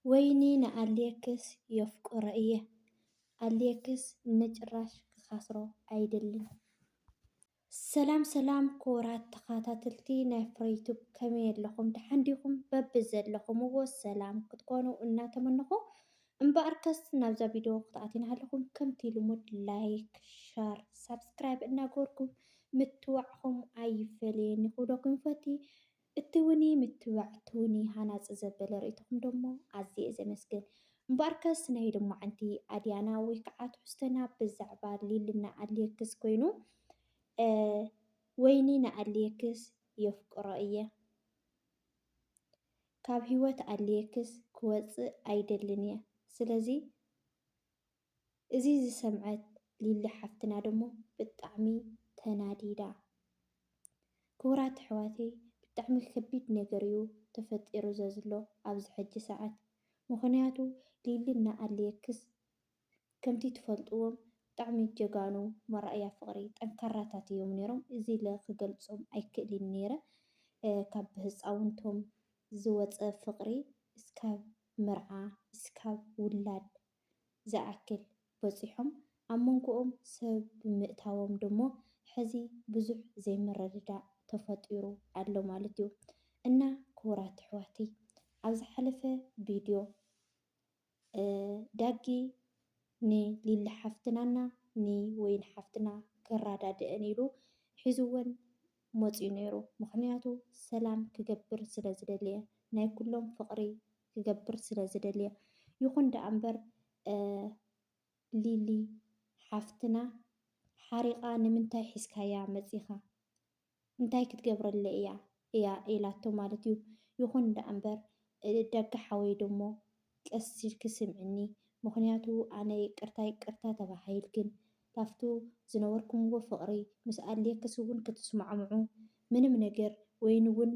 ወይኒ ንኣሌክስ የፍቅሮ እየ ኣሌክስ ንጭራሽ ክከስሮ ኣይደልን። ሰላም ሰላም ክቡራት ተኻታተልቲ ናይ ፍረ ዩቱብ ከመይ ኣለኹም ደሓን ዲኹም በብዘለኹምዎ ሰላም ክትኮኑ እናተመነኹ እምበኣርከስ ናብዛ ቪድዮ ክትኣትዩ እናሃለኹም ከምቲ ልሙድ ላይክ ሸር ሳብስክራይብ እናገበርኩም ምትብባዕኹም ኣይፈለየኒ ክብለኩም ይፈቲ እትውኒ ምትብባዕ እትውኒ ሃናጺ ዘበለ ርእይቶኹም ደሞ ኣዝየ ዘመስግን። እምበኣርከስ ናይ ሎማዓንቲ ኣድያና ወይ ከዓ ትሕዝቶና ብዛዕባ ሊሊ ንኣሌክስ ኮይኑ ወይኒ ንኣሌክስ የፍቅሮ እየ ካብ ህይወት ኣሌክስ ክወጽእ ኣይደልን እየ ስለዚ እዚ ዝሰምዐት ሊሊ ሓፍትና ደሞ ብጣዕሚ ተናዲዳ ክቡራት ኣሕዋተይ ብጣዕሚ ከቢድ ነገር እዩ ተፈጢሩ ዘዝሎ ኣብዚ ሕጂ ሰዓት ምኽንያቱ ሊሊ እና ኣሌክስ ከምቲ ትፈልጥዎም ብጣዕሚ ጀጋኑ መርኣያ ፍቅሪ ጠንካራታት እዮም ነይሮም እዚ ኢለ ክገልፆም ኣይክእሊን ነይረ ካብ ብህፃውንቶም ዝወፀ ፍቅሪ እስካብ መርዓ እስካብ ውላድ ዝኣክል በጺሖም ኣብ መንጎኦም ሰብ ብምእታዎም ደሞ ሕዚ ብዙሕ ዘይምርድዳእ ተፈጢሩ ኣሎ ማለት እዩ እና ክቡራት ኣሕዋተይ ኣብ ዝሓለፈ ቪድዮ ዳጊ ን ሊሊ ሓፍትና እና ን ወይኒ ሓፍትና ክራዳድእን ኢሉ ሒዝወን መጽዩ ነይሩ ምኽንያቱ ሰላም ክገብር ስለ ዝደለየ ናይ ኩሎም ፍቅሪ ክገብር ስለ ዝደልየ ይኹን ደኣ እምበር ሊሊ ሓፍትና ሓሪቓ ንምንታይ ሒዝካያ መጺኻ እንታይ ክትገብረለይ እያ እያ ኢላቶ ማለት እዩ። ይኹን ደኣ እምበር ደጋ ሓወይ ደሞ ቀስ ኢልኪ ስምዕኒ ምኽንያቱ ኣነ ይቅርታ ይቅርታ ተባሂል ግን ላፍቱ ዝነበርኩምዎ ፍቅሪ ምስ ኣድልየክስ እውን ክትስማዕምዑ ምንም ነገር ወይንውን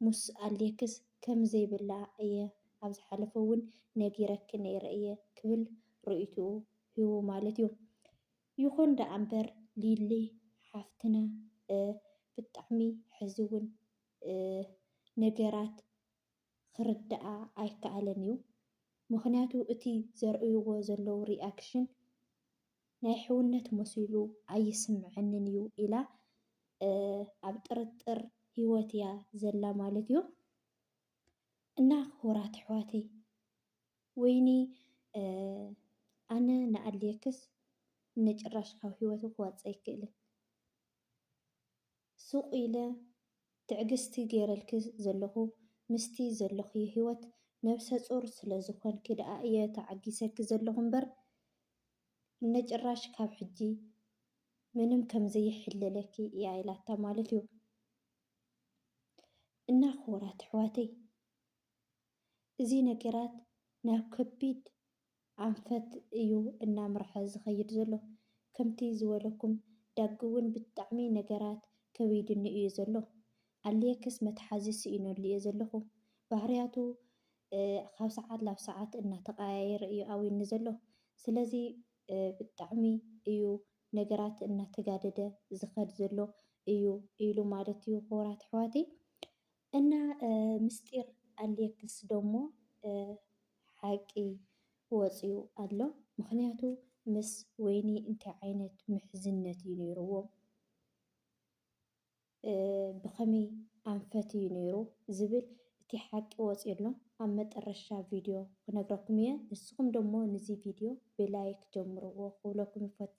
ምስ ኣሌክስ ከም ዘይብላዕ እየ ኣብ ዝሓለፈ እውን ነጊረኪ ነይረ እየ ክብል ርእይትኡ ሂቡ ማለት እዩ። ይኹን ደኣ እምበር ሊሊ ሓፍትና ብጣዕሚ ሕዚ እውን ነገራት ክርደኣ ኣይከኣለን እዩ። ምኽንያቱ እቲ ዘርእይዎ ዘለዉ ሪኣክሽን፣ ናይ ሕውነት መሲሉ ኣይስምዐንን እዩ ኢላ ኣብ ጥርጥር ሂወት እያ ዘላ ማለት እዩ እና ክቡራት ኣሕዋተይ ወይኒ ኣነ ንኣድልየክስ ንጭራሽ ካብ ሂወቱ ክወፅእ ኣይክእልን። ሱቕ ኢለ ትዕግስቲ ገይረልኪ ዘለኹ ምስቲ ዘለኽዮ ሂወት ነብሰጹር ስለ ዝኾንኪ ደኣ እየ ተዓጊሰኪ ዘለኹ እምበር እነጭራሽ ካብ ሕጂ ምንም ከም ዘይሕለለኪ እያ ኢላታ ማለት እዩ እና ክቡራት ኣሕዋተይ እዚ ነገራት ናብ ከቢድ ኣንፈት እዩ እናምርሐ ዝኸይድ ዘሎ። ከምቲ ዝበለኩም ዳጊ እውን ብጣዕሚ ነገራት ከቢዱኒ እዩ ዘሎ። ኣሌክስ መትሓዚ ስኢነሉ እየ ዘለኹ። ባህርያቱ ካብ ሰዓት ናብ ሰዓት እናተቐያየረ እዩ ኣውዩኒ ዘሎ። ስለዚ ብጣዕሚ እዩ ነገራት እናተጋደደ ዝኸድ ዘሎ እዩ ኢሉ ማለት እዩ። ክቡራት ኣሕዋተይ እና ምስጢር ኣሌክስ ደሞ ሓቂ ወፅዩ ኣሎ ምክንያቱ ምስ ወይኒ እንታይ ዓይነት ምሕዝነት እዩ ነይርዎም ብከመይ ኣንፈት እዩ ነይሩ ዝብል እቲ ሓቂ ወፅዩ ኣሎ ኣብ መጠረሻ ቪድዮ ክነግረኩም እየ ንስኩም ደሞ ንዚ ቪድዮ ብላይክ ጀምርዎ ክብለኩም ይፎቲ።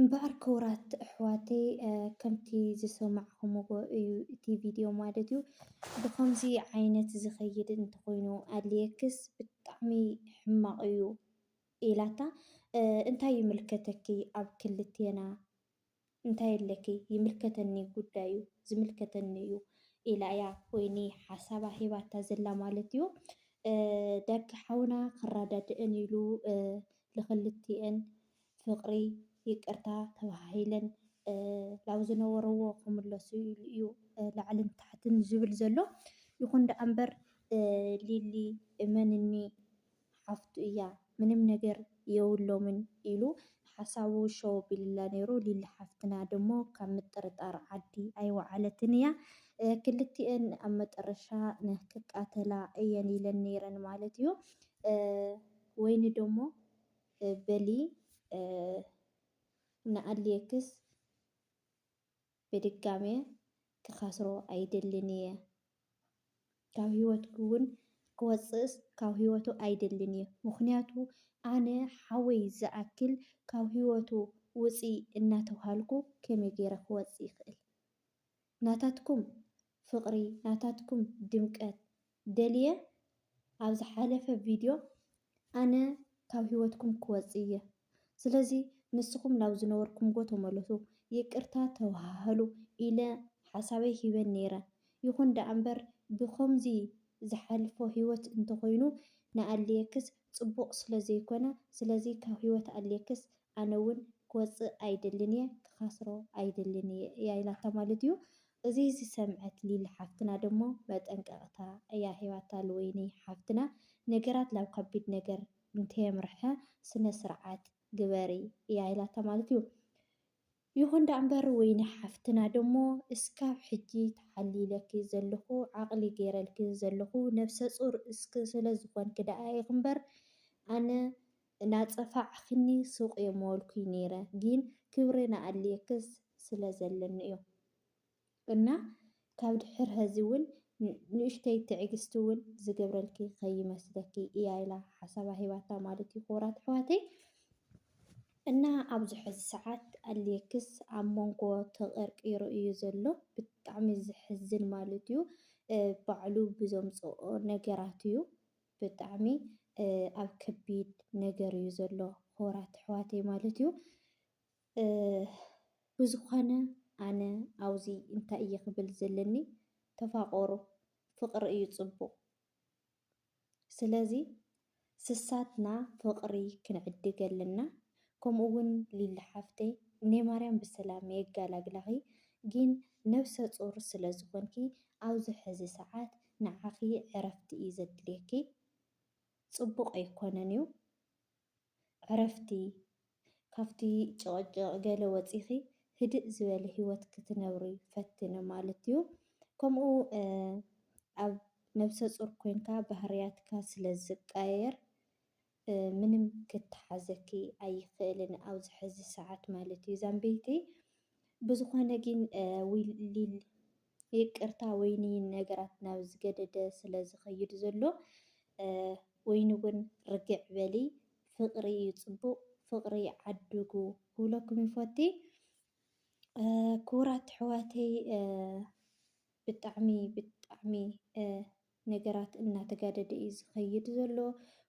እምበኣር ክቡራት ኣሕዋተይ ከምቲ ዝሰማዕኹምዎ እዩ እቲ ቪድዮ ማለት እዩ ብኸምዚ ዓይነት ዝኸይድ እንተኾይኑ ኣድልየክስ ብጣዕሚ ሕማቕ እዩ ኢላታ እንታይ ይምልከተኪ ኣብ ክልቴና እንታይ ኣለኪ ይምልከተኒ ጉዳዩ ዝምልከተኒ እዩ ኢላ እያ ወይኒ ሓሳባ ሂባታ ዘላ ማለት እዩ ዳጊ ሓውና ክረዳድእን ኢሉ ልኽልቲኤን ፍቕሪ፣ ይቅርታ ተባሃሂለን ናብ ዝነበርዎ ክምለሱ ኢሉ እዩ ላዕልን ታሕትን ዝብል ዘሎ። ይኹን ደኣ እምበር ሊሊ እመንኒ ሓፍቱ እያ ምንም ነገር የብሎምን ኢሉ ሓሳቡ ሸው ኣቢሉላ ነይሩ። ሊሊ ሓፍትና ደሞ ካብ ምጥርጣር ዓዲ ኣይወዓለትን እያ። ክልቲኤን ኣብ መጠረሻ ክቃተላ እየን ኢለን ነይረን ማለት እዩ። ወይኒ ደሞ በሊ ንኣሌክስ ብድጋሜ ክከስሮ ኣይደልን እየ ካብ ሂወትኪ ውን ክወጽእስ ካብ ሂወቱ ኣይደልን እየ ምክንያቱ ኣነ ሓወይ ዝኣክል ካብ ሂወቱ ውጺ እናተብሃልኩ ከመይ ጌረ ክወጽእ ይክእል ናታትኩም ፍቅሪ ናታትኩም ድምቀት ደልየ ኣብ ዝሓለፈ ቪድዮ ኣነ ካብ ሂወትኩም ክወጽእ እየ ስለዚ ንስኩም ናብ ዝነበርኩምጎ ተመለሱ ይቅርታ ተዋሃሃሉ ኢለ ሓሳበይ ሂበ ነይረ ይኩን ደኣምበር ብከምዚ ዝሓልፎ ሂወት እንተኮይኑ ንኣሌክስ ጽቡቅ ስለ ዘይኮነ ስለዚ ካብ ሂወት ኣልየክስ ኣነ ውን ክወጽእ ኣይደልን እየ ክካስሮ ኣይደልን እየ እያ ኢላታ ማለት እዩ እዚ ዝሰምዐት ሊሊ ሓፍትና ደሞ መጠንቀቅታ እያ ሂባታ ልወይኒ ሓፍትና ነገራት ላብ ከቢድ ነገር እንተየምርሐ ስነ ስርዓት ግበሪ እያ ኢላታ ማለት እዩ ይኹን ዳኣምበር ወይኒ ሓፍትና ደሞ እስካብ ሕጂ ተሓሊለኪ ዘለኹ ዓቅሊ ገይረልኪ ዘለኹ ነብሰጹር እስክ ስለዝኾንኪ ዳኣ ኢኺ እምበር ኣነ ናጸፋዕክኒ ሱቅ እየ ምበልኩይ ነይረ ጊን ክብሪ ናኣልየክስ ስለዘለኒ እዩ እና ካብ ድሕር ሀዚ እውን ንእሽተይ ትዕግስቲ እውን ዝገብረልኪ ከይመስለኪ እያ ኢላ ሓሳባ ሂባታ ማለት እዩ ክቡራት ኣሕዋተይ እና ኣብዚ ሕዚ ሰዓት ኣሌክስ ኣብ መንጎ ተቀርቂሩ እዩ ዘሎ ብጣዕሚ ዝሕዝን ማለት እዩ ባዕሉ ብዘምፅኦ ነገራት እዩ ብጣዕሚ ኣብ ከቢድ ነገር እዩ ዘሎ ክቡራት ኣሕዋተይ ማለት እዩ ብዝኾነ ኣነ ኣብዚ እንታይ እየ ክብል ዘለኒ ተፋቆሩ ፍቅሪ እዩ ፅቡቅ ስለዚ ስሳትና ፍቅሪ ክንዕድግ ኣለና ከምኡ እውን ሊሊ ሓፍተይ ናይ ማርያም ብሰላም የጋላግላኺ ግን ነብሰ ፁር ስለዝኾንኪ ኣብዚ ሕዚ ሰዓት ንዓኺ ዕረፍቲ እዩ ዘድልየኪ ፅቡቅ ኣይኮነን እዩ ዕረፍቲ፣ ካብቲ ጭቕጭቕ ገለ ወጺኺ ህድእ ዝበለ ህይወት ክትነብሪ ፈትኒ ማለት'ዩ። ከምኡ ኣብ ነብሰ-ጹር ኮንካ ባህርያትካ ስለ ዝቃየር ምንም ክተሓዘኪ ኣይኽእልን ኣብዚ ሕዚ ሰዓት ማለት'ዩ። ዛምበይተይ ብዝኾነ ግን ዊልል ይቅርታ ወይኒ ነገራት ናብ ዝገደደ ስለ ዝኸይድ ዘሎ ወይኒ ውን ርግዕ በሊ ፍቅሪ እዩ ጽቡቅ ፍቅሪ ዓድጉ ክብለኩም ይፎቲ ክቡራት ኣሕዋተይ ብጣዕሚ ብጣዕሚ ነገራት እናተጋደደ እዩ ዝኸይድ ዘሎ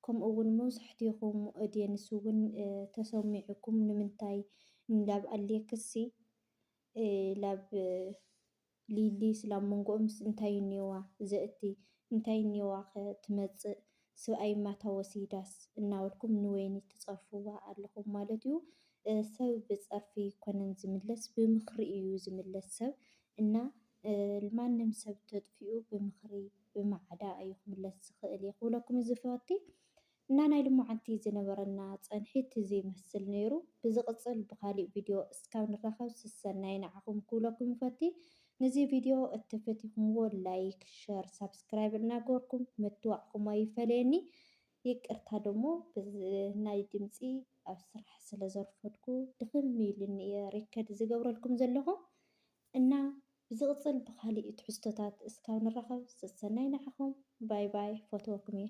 ከምኡ ውን መብዛሕትኹም ኦድየንስ ውን ተሰሚዑኩም ንምንታይ እንዳብ ኣልየክሲ ላብ ሊሊ ስላብ መንጎኦምስ እንታይ እኒኦዋ ዘእቲ እንታይ እኒኦዋኸ ትመፅእ ስብኣይ ማታ ወሲዳስ እናበልኩም ንወይኒ ትፀርፍዋ ኣለኹም ማለት እዩ ሰብ ብፀርፊ ኣይኮነን ዝምለስ ብምኽሪ እዩ ዝምለስ ሰብ እና ማንም ሰብ ተጥፊኡ ብምኽሪ ብማዕዳ እዩ ክምለስ ዝኽእል እየ ክብለኩም ዝፈቲ እና ናይ ልሞዓንቲ ዝነበረና ፀንሒት እዚ ይመስል ነይሩ ብዝቅፅል ብካሊእ ቪድዮ እስካብ ንራከብ ስሰናይ ናዓኩም ክብለኩም ይፈቲ ንዚ ቪድዮ እተ ፈቲኩምዎ ላይክ ሸር ሳብስክራይብ እና ገበርኩም ምትባዕኩም ኣይፈለየኒ ይቅርታ ደሞ ናይ ድምፂ ኣብ ስራሕ ስለ ዘርፈድኩ ድክም ኢሉኒ እየ ሪከድ ዝገብረልኩም ዘለኩ እና ብዝቅፅል ብካሊእ ትሕዝቶታት እስካብ ንራከብ ስሰናይ ናዓኩም ባይ ባይ ፈትወኩም እየ።